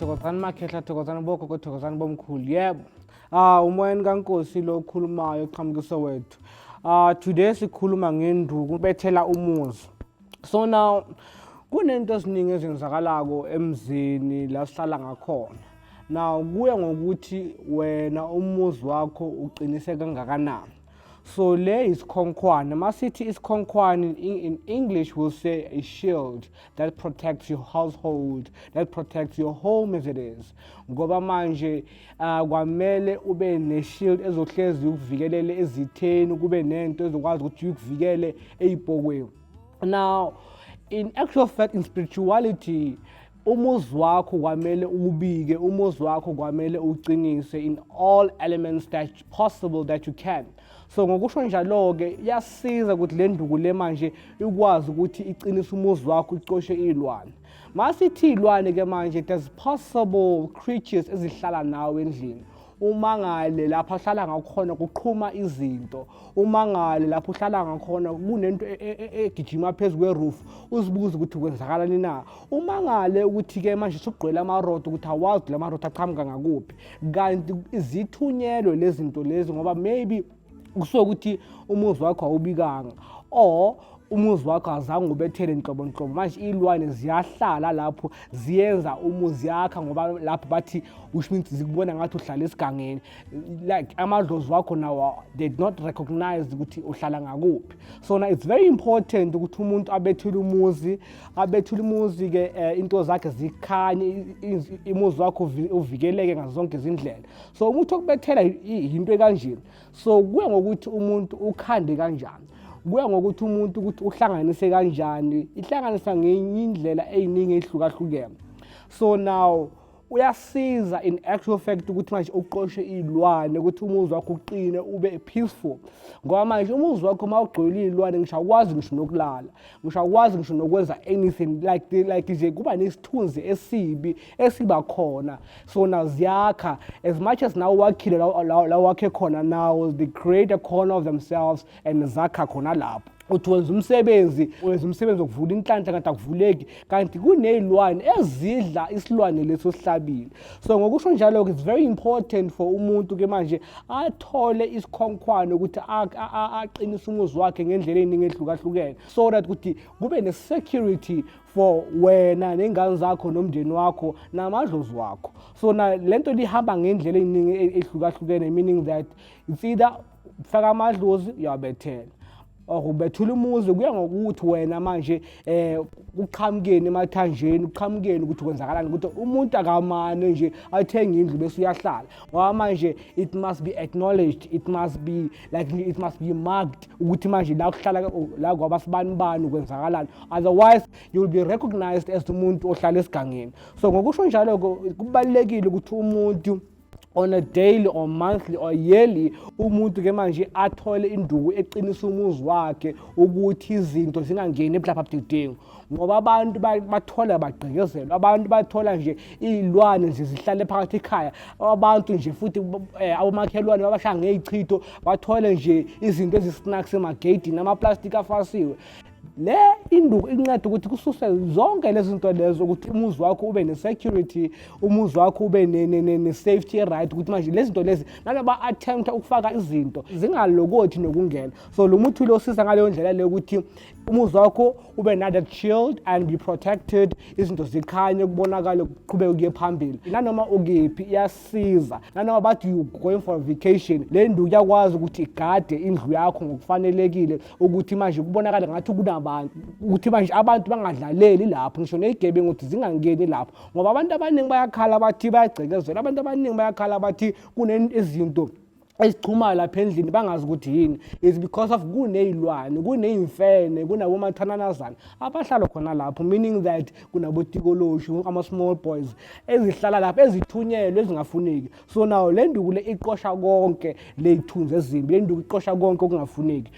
thokozani makhehla thokozani bogogo thokozani bomkhulu yebo ah umoyeni kankosi lo okhulumayo oqhamukise wethu ah today sikhuluma ngenduku bethela umuzi so now kunento eziningi ezenzakalako emzini la sihlala ngakhona Now kuya ngokuthi wena umuzi wakho uqinise kangakanani. So le isikhonkhwane. Masithi isikhonkhwane in English will say a shield that protects your household, that protects your home as it is. Ngoba manje uh, kwamele ube ne shield ezohlezi ukuvikelele ezitheni kube nento ezokwazi ukuthi ukuvikele eyibhokweni. Now in actual fact in spirituality umuzi wakho kwamele uwubike umuzi wakho kwamele uwuqinise in all elements that possible that you can so ngokusho njalo-ke iyasiza ukuthi le nduku le manje ikwazi ukuthi iqinise umuzi wakho icoshe iy'lwane masithi iy'lwane-ke manje there's possible creatures ezihlala nawe endlini umangale lapho ahlala ngakhona kuqhuma izinto umangale lapho uhlala ngakhona kunento e, e, e, egijima phezu kweroof uzibuze ukuthi kwenzakalani na umangale ukuthi-ke manje sugqwele amarodo ukuthi awazi la marodo aqhamuka ngakuphi kanti zithunyelwe lezi zinto lezi ngoba maybe kusuke ukuthi umuzi wakho awubikanga or umuzi wakho azange ubethele nhlobo nhlobo manje iy'lwane ziyahlala lapho ziyenza umuzi yakha ngoba lapho bathi which means zikubona ngathi uhlala esigangeni like amadlozi wakho nawo they did not recognize ukuthi uhlala ngakuphi so na it's very important ukuthi umuntu abethule umuzi abethule umuzi-ke um into zakhe zikhanye umuzi wakho uvikeleke ngazo zonke izindlela so umuthi okubethela yinto ekanje so kuya ngokuthi umuntu ukhande kanjani kuya ngokuthi umuntu ukuthi uhlanganise kanjani ihlanganisa ngenye indlela eyiningi ehlukahlukene so now uyasiza in actual fact ukuthi manje uqoshe iy'lwane ukuthi umuzi wakho uqine ube peaceful ngoba manje umuzi wakho uma ugcwele iy'lwane ngisho akwazi ngisho nokulala ngisho akwazi ngisho nokwenza anything like like nje kuba nesithunzi esibi esiba khona sona ziyakha as much as nawo wakhile la wakhe khona now they create a corner of themselves and zakha khona lapho uthi wenza umsebenzi wenza umsebenzi wokuvula inhlanhla kanti akuvuleki kanti kuney'lwane ezidla isilwane lesi osihlabile so ngokusho njalo-ke it's very important for umuntu-ke manje athole isikhonkhwane ukuthi aqinise umuzi wakhe ngendlela ey'ningi ehlukahlukene so that ukuthi kube ne-security for wena nengane zakho nomndeni wakho namadlozi wakho so na le nto lihamba ngendlela eziningi e-, ehlukahlukene meaning that it's either faka amadlozi uyawabethela or ubethula umuzi kuya ngokuthi wena manje eh kuqhamukeni emathanjeni kuqhamukeni ukuthi kwenzakalani ukuthi umuntu akamane nje athenge indlu bese uyahlala ngoba manje it must be acknowledged it must be like it must be marked ukuthi manje la kuhlala la kwaba sibani bani kwenzakalani otherwise you will be recognized as umuntu ohlala esigangeni so ngokusho njalo kubalekile ukuthi umuntu on a daily or monthly or yearly umuntu ke manje athole induku eqinisa umuzi wakhe ukuthi izinto zingangeni eblapha budedengu ngoba abantu bathola bagqekezelwa abantu bathola nje iy'lwane nje zihlale phakathi ekhaya abantu nje futhi eh, abomakhelwane babashaya ngey'chitho bathole nje izinto ezisnacks emageyidini amaplastic afasiwe le induku inceda ukuthi kususe zonke lezi zinto lezo ukuthi umuzi wakho ube ne-security umuzi wakho ube ne-safety right ukuthi manje lezi zinto lezi nalo ba-attempta ukufaka izinto zingalokothi nokungena so lo muthi lo usiza ngaleyo ndlela leyo ukuthi umuzi wakho ube nada chilled and be protected izinto zikhanye kubonakale kuqhubeke kuye phambili nanoma ukephi iyasiza nanoma bathi you going for a vacation le ndu iyakwazi ukuthi igade indlu yakho ngokufanelekile ukuthi manje kubonakale ngathi kunabantu ukuthi manje abantu bangadlaleli lapho ngisho neyigebe ngokuthi zingangeni lapho ngoba abantu abaningi bayakhala bathi bayagcekezela abantu abaningi bayakhala bathi kunezinto ezichumayo lapha endlini bangazi ukuthi yini is because of kuney'lwane kuney'mfene kunabomathananazana abahlala khona lapho meaning that kunabotikoloshu ama-small boys ezihlala lapho ezithunyelwe ezingafuneki so nawo le nduku le iqosha konke ley'thunzi ezimbi le nduku iqosha konke okungafuneki